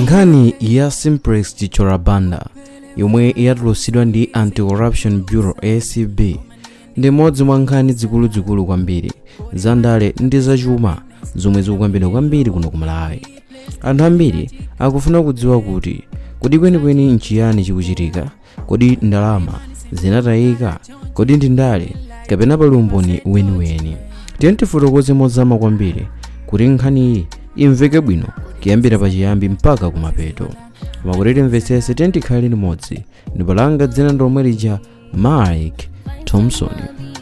nkhani ya simplex chithyola banda yomwe yatulutsidwa ndi anti-corruption bureau acb ndi imodzi mwa nkhani zikuluzikulu kwambiri za ndale ndi zachuma zomwe zikukambidwa kwambiri kuno ku malawi anthu ambiri akufuna kudziwa kuti kodi kwenikweni nchiyani chikuchitika kodi ndalama zinatayika kodi ndi ndale kapena pali umboni weniweni tiyeni tifotokoze mozama kwambiri kuti nkhaniyi imveke bwino kuyambira pachiyambi mpaka kumapeto koma kuti timvetsetse tiyeni tikhale limodzi ndipo langa dzina ndi lomwe lija mike thompson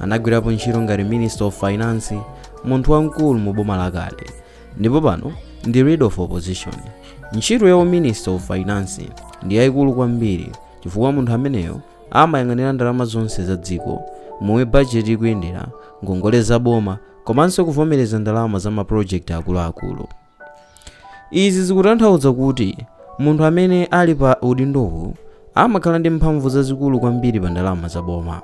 Anagwirapo ntchito ngati Minister of Finance, munthu wamkulu mu boma lakale, ndipo pano ndi Leader of Opposition. Ntchito ya Minister of Finance ndi yaikulu kwambiri chifukwa munthu ameneyo amayang'anira ndalama zonse za dziko, momwe bajeti ikuyendera, ngongole za boma komanso kuvomereza ndalama za mapulojekiti akuluakulu. Izi zikutanthauza kuti munthu amene ali pa udindowu amakhala ndi mphamvu zazikulu kwambiri pa ndalama za boma.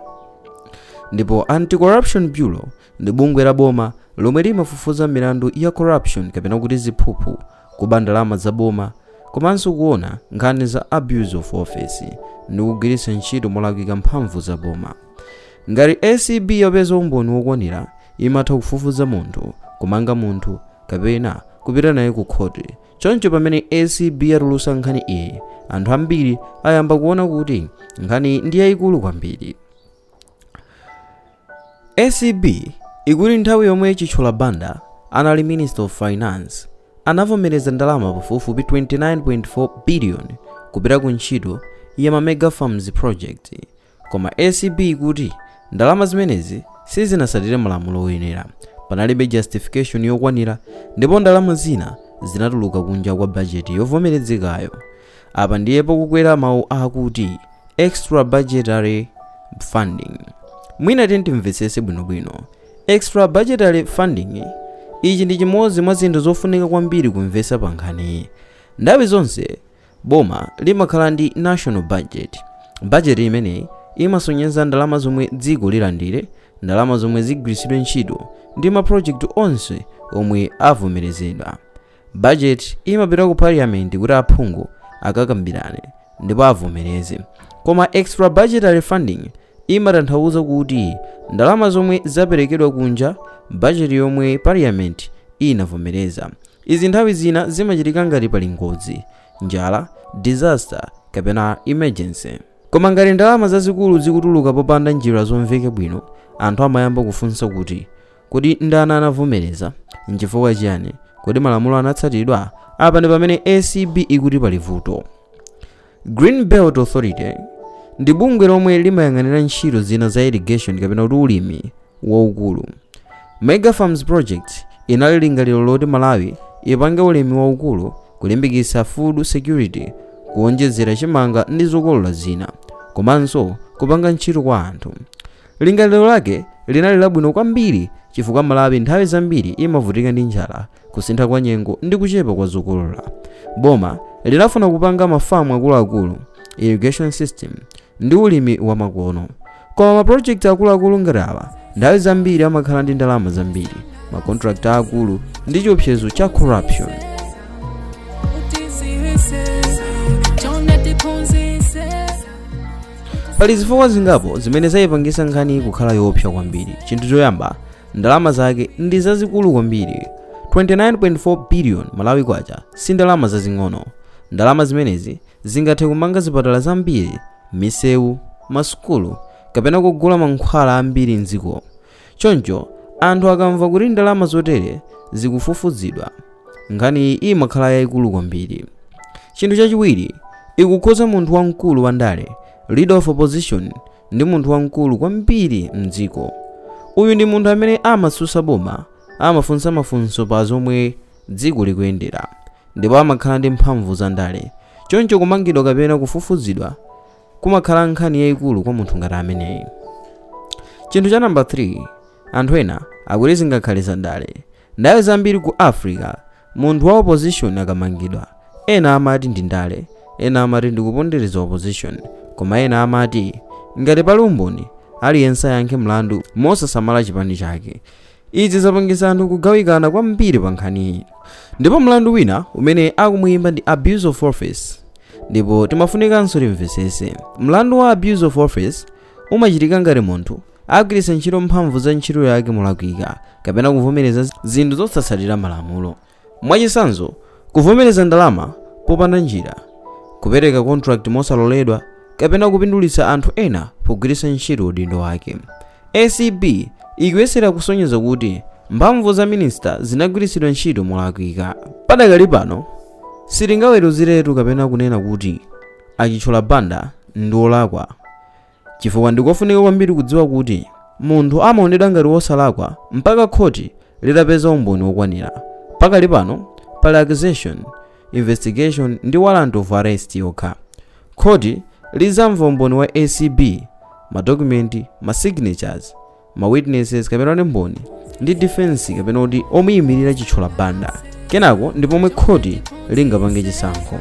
Ndipo Anti-Corruption Bureau ndi bungwe la boma lomwe limafufuza milandu ya corruption kapena kuti ziphuphu, kuba ndalama za boma komanso kuona nkhani za abuse of office ndi kugwiritsa ntchito molakwika mphamvu za boma. Ngati acb yapeza umboni wokwanira, imatha kufufuza munthu, kumanga munthu kapena kupita naye ku khoti. Choncho pamene acb yatulutsa nkhani iyi, anthu ambiri ayamba kuona kuti nkhaniyi ndi yaikulu kwambiri. Acb ikuti nthawi yomwe Chithyola Banda anali Minister of Finance, anavomereza ndalama pafupifupi 29.4 biliyoni kupita ku ntchito ya ma mega farms project. koma acb ikuti ndalama zimenezi sizinatsatire malamulo oyenera panalibe justification yokwanira ndipo ndalama zina zinatuluka kunja kwa bajeti yovomerezekayo apa ndiye pakubwera mawu akuti extra budgetary funding mwina tiyeni timvetsetse bwinobwino extra budgetary funding ichi ndi chimodzi mwa zinthu zofunika kwambiri kumvetsa pa nkhaniyi nthawi zonse Boma limakhala ndi national budget. Budget imeneyi imasonyeza ndalama zomwe dziko lilandire, ndalama zomwe zigwiritsidwe ntchito ndi ma project onse omwe avomerezedwa. Budget imapita ku parliament kuti aphungu akakambirane ndipo avomereze. Koma extra budgetary funding imatanthauza kuti ndalama zomwe zaperekedwa kunja budget yomwe parliament inavomereza. Izi nthawi zina zimachitika ngati pali ngozi, njala, disaster, kapena emergency. Koma ngati ndalama zazikulu zikutuluka popanda njira zomveka bwino, anthu amayamba kufunsa kuti, Kodi ndani anavomereza? N'chifukwa chiyani? Kodi malamulo anatsatidwa? Apa ndi pamene acb ikuti pali vuto. green belt authority ndi bungwe lomwe limayang'anira ntchito zina za irrigation kapena kuti ulimi waukulu mega farms project inali lingaliro loti malawi ipange ulimi waukulu kulimbikitsa food security kuonjezera chimanga ndi zokolola zina komanso kupanga ntchito kwa anthu lingaliro lake linali labwino kwambiri chifukwa malawi nthawi zambiri imavutika ndi njala kusintha kwa nyengo ndi kuchepa kwa zokolola boma linafuna kupanga mafamu akuluakulu irrigation system ndi ulimi wamakono koma mapulojekiti akuluakulu ngati awa nthawi zambiri amakhala ndi ndalama zambiri makontrakti aakulu ndi chiopsezo cha corruption pali zifukwa zingapo zimene zayipangisa nkhani kukhala yoopsa kwambiri chinthu choyamba ndalama zake ndi zazikulu kwambiri 29.4 billion malawi kwacha si ndalama zazing'ono ndalama zimenezi zingathe kumanga zipatala zambiri misewu masukulu kapena kugula mankhwala ambiri mdziko choncho anthu akamva kuti ndalama zotere zikufufuzidwa nkhaniyi imakhala yayikulu kwambiri chinthu chachiwiri ikukhudza munthu wamkulu wa ndale leader of opposition ndi munthu wamkulu kwambiri mdziko. Uyu ndi munthu amene amatsutsa boma, amafunsa mafunso pa zomwe dziko likuyendera, ndipo amakhala ndi mphamvu za ndale. Choncho kumangidwa kapena kufufuzidwa kumakhala nkhani yayikulu kwa munthu ngati ameneyi. Chinthu cha namba 3, anthu ena akuti zingakhale zandale. Nthawi zambiri ku Africa, munthu wa opposition akamangidwa, ena amati ndi ndale, ena amati ndi kupondereza opposition, koma ena amati ngati pali umboni, aliyense ayankhe mlandu mosasamala chipani chake. Izi zapangisa anthu kugawikana kwambiri pa nkhaniyi. Ndipo mlandu wina umene akumuyimba ndi abuse of office ndipo tikufunikanso timvesese. Mlandu wa abuse of office umachitika ngati munthu agwiritsa ntchito mphamvu za ntchito yake molakwika kapena kuvomereza zinthu zosatsatira malamulo mwachitsanzo kuvomereza ndalama popanda njira kupereka contract mosaloledwa kapena kupindulitsa anthu ena pogwiritsa ntchito udindo wake acb ikuyesera kusonyeza kuti mphamvu za minista zinagwiritsidwa ntchito molakwika padakali pano sitingaweruziretu kapena kunena kuti a chithyola banda ndi olakwa Chifukwa ndi kofunika kwambiri kudziwa kuti munthu amaonedwa ngati wosalakwa mpaka khoti litapeza umboni wokwanira. Pakali pano, pali accusation, investigation ndi warrant of arrest yokha. Khoti lidzamva umboni wa ACB, madokumenti, masignatures, ma witnesses kapena kuti mboni ndi defense kapena kuti omuyimirira Chithyola Banda kenako ndi pomwe khoti lingapange chisankho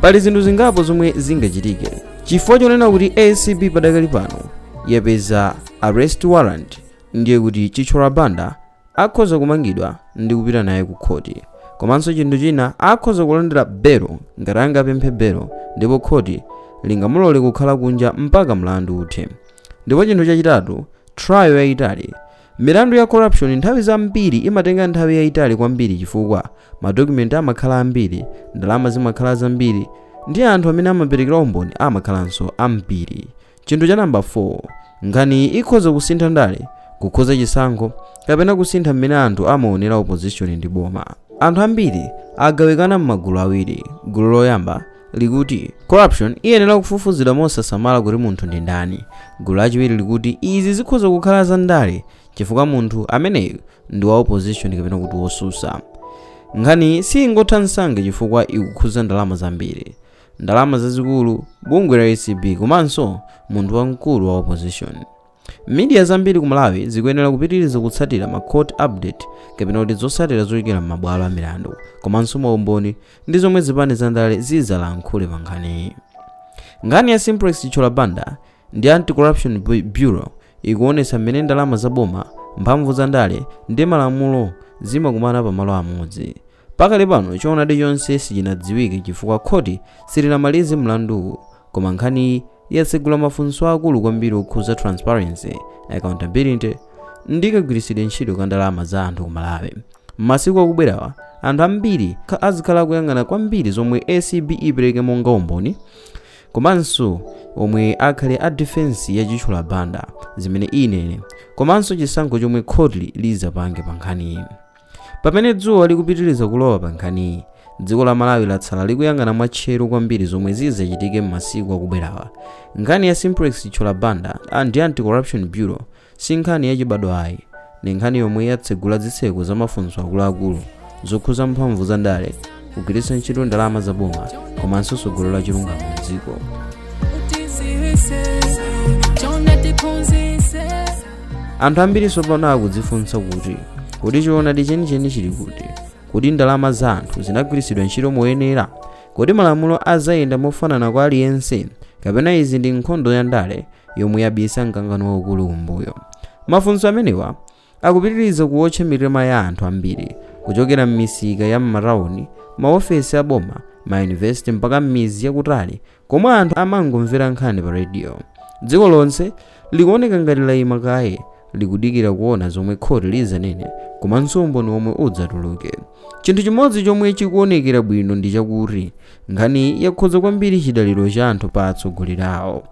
pali zinthu zingapo zomwe zingachitike chifukwa chonena kuti ACB padakali pano yapeza arrest warrant ndiye kuti Chithyola Banda Akhoza kumangidwa ndi kupita naye ku khoti. Komanso chinthu china, akhoza kulandira belo ngati angapemphe belo ndipo khoti lingamulole kukhala kunja mpaka mlandu uthe. Ndipo chinthu chachitatu, trial yaitali. Milandu ya corruption nthawi zambiri imatenga nthawi yaitali kwambiri chifukwa ma document amakhala ambiri, ndalama zimakhala zambiri ndi anthu amene amaperekera umboni amakhalanso ambiri. Chinthu cha namba 4, nkhaniyi ikhoza kusintha ndale, kukhudza chisankho, kapena kusintha mmene anthu amaonera opposition ndi boma. Anthu ambiri agawikana m'magulu awiri. Gulu loyamba likuti corruption iyenera kufufuzidwa mosasamala kuti munthu ndi ndani. Gulu lachiwiri likuti izi zikhoza kukhala za ndale chifukwa munthu ameneyu ndi wa opposition kapena kuti wotsutsa. Nkhaniyi siyingotha msanga chifukwa ikukhudza ndalama zambiri. ndalama zazikulu, bungwe la ACB komanso munthu wamkulu wa opposition. Media zambiri ku Malawi zikuyenera kupitiriza kutsatira ma court update kapena kuti zotsatira zochokera m'mabwalo a milandu komanso maumboni ndi zomwe zipani za ndale zidzalankhule pa nkhaniyi. Nkhani ya Simplex Chithyola Banda ndi Anti-Corruption Bureau ikuonetsa mmene ndalama za boma, mphamvu za ndale ndi malamulo zimakumana pamalo amodzi. pakali pano choonadi chonse sichinadziwike chifukwa khoti silinamalize mlanduwu koma nkhaniyi yatsegula mafunso akulu kwambiri okhudza transparency accountability ndi kagwiritsidwe ntchito ka ndalama za anthu ku Malawi m'masiku akubwerawa anthu ambiri azikhala akuyang'ana kwambiri zomwe ACB ipereke monga umboni komanso omwe akhale a defense ya Chithyola Banda zimene inene komanso chisankho chomwe khoti lidzapange pa nkhaniyi Pamene dzuwa likupitiriza kulowa pa nkhaniyi, dziko la Malawi latsala likuyang'ana mwatcheru kwambiri zomwe zidzachitike m'masiku akubwerawa. Nkhani ya Simplex Chithyola Banda ndi Anti-Corruption Bureau si nkhani yachibadwa ayi. Ndi nkhani yomwe yatsegula zitseko za mafunso akuluakulu zokhudza mphamvu za ndale kugwiritsa ntchito ndalama za boma komanso tsogolo la chilungamo mdziko anthu ambiri tsopano akudzifunsa kuti kodi choonadi chenicheni chili kuti kodi ndalama za anthu zinagwiritsidwa ntchito moyenera kodi malamulo azayenda mofanana kwa aliyense kapena izi ndi nkhondo ya ndale yomwe yabisa mkangano waukulu kumbuyo mafunso amenewa Akupitiriza kuwotcha mitima ya anthu ambiri, kuchokera m'misika ya m'matauni, maofesi a boma, mayunivesite mpaka m'midzi yakutali komwe anthu amangomvera nkhani pa rediyo. Dziko lonse likuoneka ngati laima kaye likudikira kuona zomwe khoti lidzanene komanso umboni womwe udzatuluke. Chinthu chimodzi chomwe chikuonekera bwino ndi chakuti nkhaniyi yakhudza kwambiri chidaliro cha anthu pa atsogoleri awo.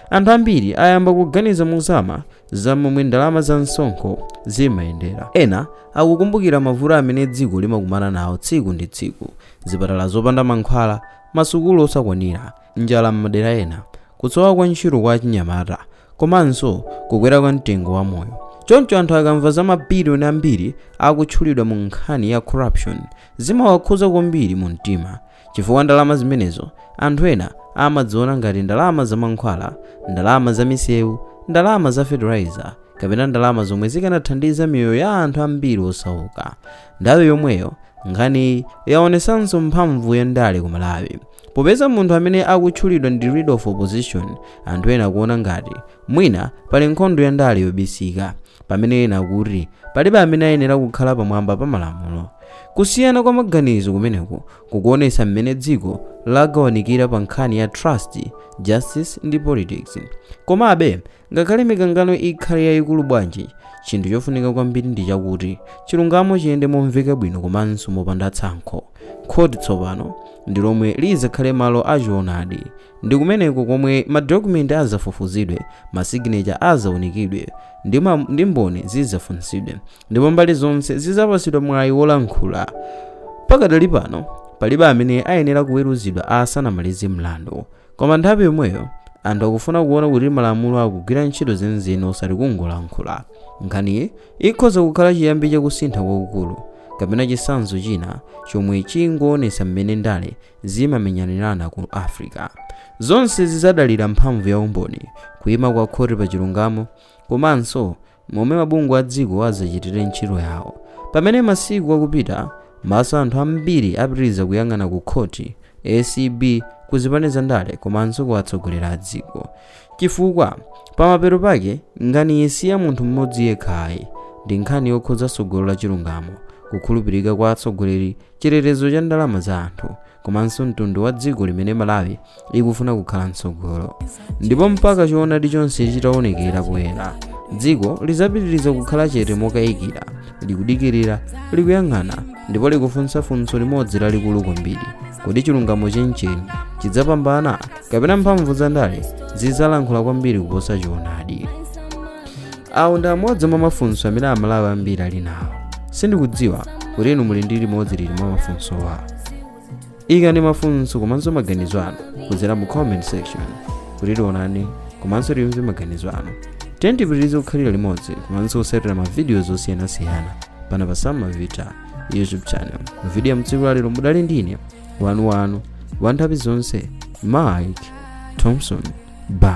Anthu ambiri ayamba kuganiza mozama za momwe ndalama za msonkho zimayendera. Ena akukumbukira mavuto amene dziko limakumana nawo tsiku ndi tsiku, zipatala zopanda mankhwala, masukulu osakwanira, njala m'madera ena, kusowa kwa ntchito kwa achinyamata, komanso kukwera kwa mtengo wa moyo. Choncho anthu akamva za mabiliyoni ambiri akutchulidwa mu nkhani ya corruption, zimawakhuza kwambiri mu mtima. Chifukwa ndalama zimenezo anthu ena amadziona ngati ndalama za mankhwala, ndalama za misewu, ndalama za fertilizer, kapena ndalama zomwe zikanathandiza miyoyo ya anthu ambiri osauka. Nthawi yomweyo, nkhaniyi yaonetsanso mphamvu ya ndale ku Malawi. Popeza munthu amene akutchulidwa ndi leader of opposition, anthu ena akuona ngati mwina pali nkhondo ya ndale yobisika, pamene ena akuti palibe amene ayenera kukhala pamwamba pa malamulo. Kusiyana kwa maganizo kumeneku kukuonetsa mmene dziko lagawanikira pa nkhani ya trust, justice, ndi politics. Komabe, ngakhale mikangano ikhale yaikulu bwanji, chinthu chofunika kwambiri ndi chakuti chilungamo chiyende momveka bwino komanso mopanda tsankho. Khoti tsopano ndi lomwe lidzakhale malo a choonadi. Ndi kumeneko komwe madokumenti adzafufuzidwe, masiginecha adzaunikidwe, ndi mboni zidzafunsidwe, ndipo mbali zonse zidzapatsidwa mwayi wolankhula pakadali pano palibe amene ayenera kuweruzidwa asanamalize mlandu koma nthawi yomweyo anthu akufuna kuona kuti malamulo akugwira ntchito zenizeni osati kungolankhula nkhaniyi ikhoza kukhala chiyambi chakusintha kwakukulu kapena chitsanzo china chomwe chingoonetsa mmene ndale zimamenyanirana ku africa zonse zidzadalira mphamvu ya umboni kuima kwa khoti pa chilungamo komanso momwe mabungwe a dziko adzachitire ntchito yawo. Pamene masiku akupita, maso a anthu ambiri apitiriza kuyang'ana ku khoti, acb, ku zipani zandale komanso kwa atsogoleri a dziko. Chifukwa, pamapeto pake, nkhaniyi si ya munthu mmodzi yekha ayi. Ndi nkhani yokhudza tsogolo la chilungamo, kukhulupirika kwa atsogoleri chitetezo cha ndalama za anthu komanso mtundu wa dziko limene malawi ikufuna kukhala mtsogolo ndipo mpaka choonadi chonse chitaonekera poyera dziko lidzapitiriza kukhala chete mokayikira likudikirira likuyang'ana ndipo likufunsa funso limodzi lalikulu kwambiri kodi chilungamo chenicheni chidzapambana kapena mphamvu za ndale zidzalankhula kwambiri kuposa choonadi awo ndi amodzi mwa mafunso amene amalawi ambiri ali nawo sindikudziwa kuti inu muli ndi limodzi liti mwa mafunsowa ikani mafunso komanso maganizo anu kudzera mu comment section kuti tionane komanso timve maganizo anu tiyeni tipitirize kukhalira limodzi komanso kutsatira mavidiyo zosiyanasiyana pano pa Sam Mavita youtube channel mu vidiyo ya mtsiku lalero mudali ndine wanu wanu wa nthawi zonse mike thompson bye